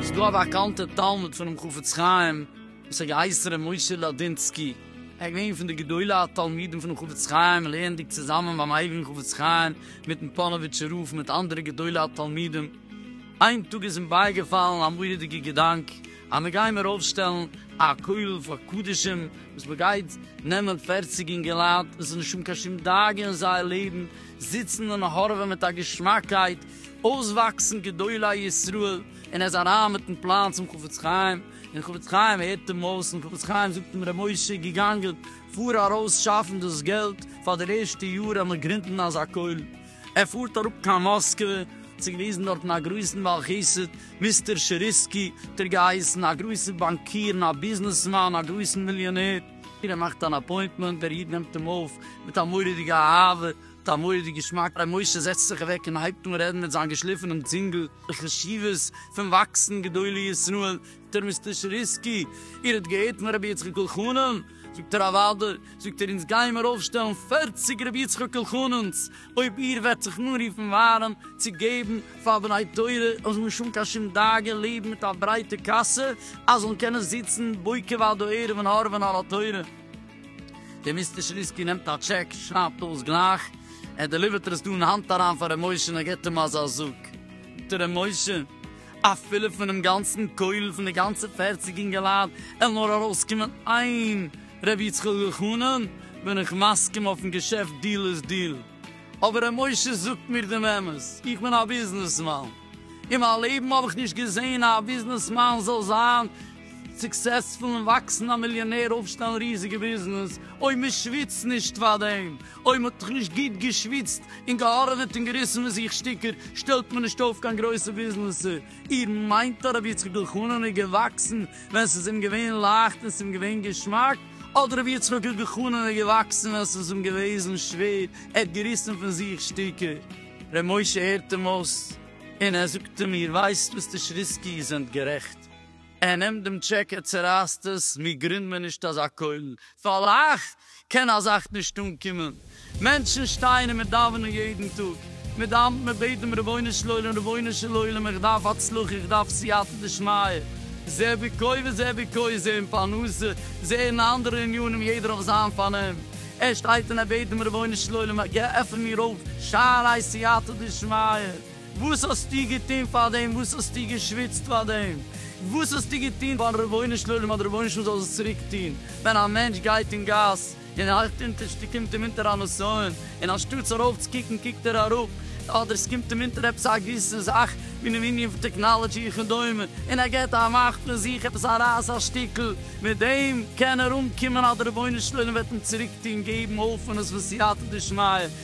ס'איז דא א באקאנטע תלמיד פונעם חפץ חיים וואס האט געהייסן ר' משה לאדינסקי, ער איז געווען פון די גדולי התלמידים פונעם חפץ חיים לערנדיג צוזאמען ביים הייליגן חפץ חיים מיטן פאנאוויטשער רב און מיט אנדערע גדולי התלמידים, איין טאג איז אים בייגעפאלן א מורא'דיגע געדאנק, אז מען גיימער אויפשטעלן א כולל פאר קדשים וואס מען גייט נעמען פערציג אינגעלייט וואס איז נישט האבן קיין שום דאגה אין זייער לעבן, זיצן און הארעווען מיט א געשמאקייט, אויסוואקסן גדולי ישראל, און ער איז אריין מיטן פלאן צום חפץ חיים, און חפץ חיים הערט אים אויס, און חפץ חיים זאגט אים ר' משה געגאנגען פאר ארויס שאפן דאס געלט פאר די ערשטע יאר אז מען גרינדן אזא כולל, ער פארט אראפ קיין מאסקווע צו גריסן דארטן א גרויסן בעל חסד, מיסטער טשעריסקי האט ער געהייסן, א גרויסער באנקיר און א ביזנעסמאן, א גרויסן מיליאנער. ער מאכט אן אפוינטמענט, דער איד נעמט אים אויף מיט א מורא'דיגע אהבה, מיט א מורא'דיגע געשמאק, ר' משה זעצט זיך אוועק און הייבט אן רעדן מיט זיין געשליפענעם צינגל, די חשיבות פון וואקסן גדולי ישראל, דער מיסטער שריסקי, איר האט געהערט פון רבי יצחק אלחנן? זאגט ער, אוודאי, זאגט ער, אונז גיימער אויפשטעלן פֿערציק רבי יצחק אלחנן'ס, אויב איר וועט זיך אנרופן ווארעם צו געבן פאר בני תורה אן שום קיין שום דאגה, לעבן מיט א ברייטע קאסע, אז זאלן קענען זיצן בוקר ועד הערב און הארעווען על התורה. דער מיסטער שריסקי נעמט א טשעק, שרייבט אויס גלייך, ער דעליווערט עס דא אין האנט אריין פאר ר' משה און ער געבט אים אזא זאג. זאגט ער, ר' משה, אפילו פונעם גאנצן כולל פון די גאנצע פערציג אינגעלייט וועלן נאר ארויסקומען איין ר' יצחק אלחנן, בין איך מסכים אויפן געשעפט דיל איז דיל. אבער ר' משה זאגט מיר דעם אמת, איך בין א ביזנעסמאן. אין מיין לעבן האב איך נישט געזען א ביזנעסמאן זאל זיין סוקסעספולן וואקסן א מיליאנער אויפשטעלן ריזיגע ביזנעס אוי מען שוויצט נישט פאר דעם אוי מען האט דאך נישט גוט געשוויצט און געהארעוועט און געריסן פון זיך שטיקער שטעלט מען נישט אויף קיין גרויסע ביזנעסער איר מיינט הרב יצחק אלחנן איז געוואקסן ווען ס'איז אים געווען לייכט און ס'אים געווען געשמאק אדער רבי יצחק אלחנן איז געוואקסן ווען ס'איז אים געוועזן שווער ער האט געריסן פון זיך שטיקער. ר' משה הערט אים אויס און ער זאגט אים איר ווייסט מיסטער שריסקי איר זענט גערעכט. ער נעמט דעם טשעק ער צערייסט עס, מיר גרינד מען נישט אזא כולל, פאר לאך קען א זאך נישט אנקומען, מענטשן שטייען און מיר דאווענען יעדן טאג, מיר דאווענט מיר בעט דעם רבונו של עולם רבונו של עולם איך דארף הצלחה איך דארף סייעתא דשמיא, זה ביקוי וזה ביקוי זה אין פרנסה זה אין אנדערע עניינים יעדער אויף זיין פארנעם, ער שטייט און ער בעט דעם רבונו של עולם עפן מיר אויף שערי סייעתא דשמיא, וואס האסטו געטון פאר דעם? וואס האסטו געשוויצט פאר דעם? וואס האסטו געטון פארן רבונו של עולם אז דער רבונו של עולם זאל עס צוריק טון? ווען א מענטש גייט אין גאס און הייכט אונטערשטע קומט אים אונטער א נסיון, און אנשטאטס ארויפצוקוקן קוקט ער אראפ, אדער עס קומט אים אונטער עפעס א געוויסע זאך אינעם ענין פון טעקנאלעדזשי וכדומה, און ער געט א מאך פון זיך עפעס א רייס א שטיקל, מיט דעם קען ער אנקומען אז דער רבונו של עולם וועט אים צוריק טון, געבן הויפענעס פון סייעתא דשמיא,